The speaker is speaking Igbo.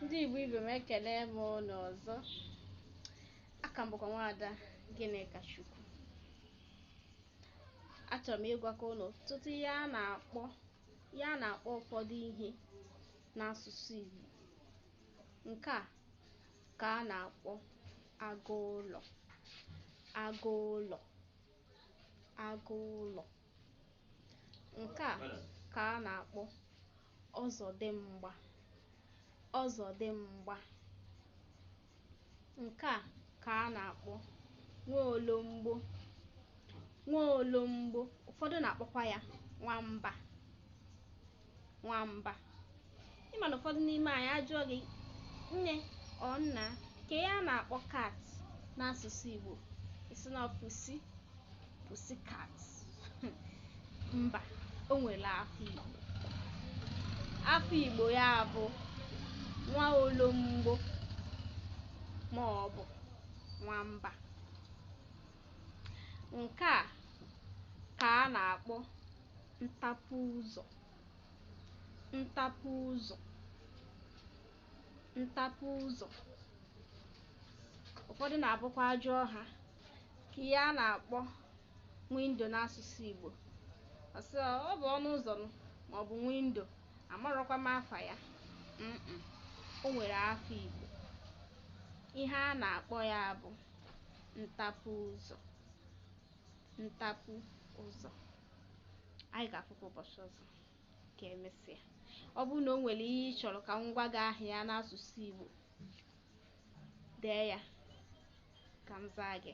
ndị Igbo ibe m ekele m unu ọzọ aka m bụkwa nwaada Gịnịkachukwu achọrọ m ịgwakwa unu ọtụtụ ihe a na-akpọ ụfọdụ ihe n'asụsụ Igbo nke a ka a na-akpọ agụ ụlọ agụ ụlọ agụ ụlọ Nke a ka a na-akpọ ọzọdịmgba ọzọdịmgba. Nke a ka a na-akpọ nwaologbo nwaologbo. Ụfọdụ na-akpọkwa ya nwamba. nwamba. Ị ma na ụfọdụ n'ime anyị a jụọ gị nne ọ nna kee ihe a na-akpọ cat n'asụsụ Igbo ị sị na pussy pussy cat mba o nwere afa Igbo afa Igbo ya bụ nwa olomgbo ma ọ bụ nwamba nke a ka a na-akpọ ntapu ụzọ ntapu ụzọ ntapu ụzọ ụfọdụ na-abụkwa a jụọ ha kee ihe a na-akpọ window n'asụsụ Igbo ọ sị ọ ọ bụ ọnụ ụzọ ma ọ bụ window amarọkwa m afa ya Mm-mm. o nwere afa Igbo ihe a na-akpọ ya bụ ntapu ụzọ ntapu ụzọ anyị ga-afụkwa ụbọchị ọzọ ka emesịa ọ bụrụ na o nwere ihe ị chọrọ ka m gwa gị aha ya n'asụsụ Igbo dee ya ka m zaa gị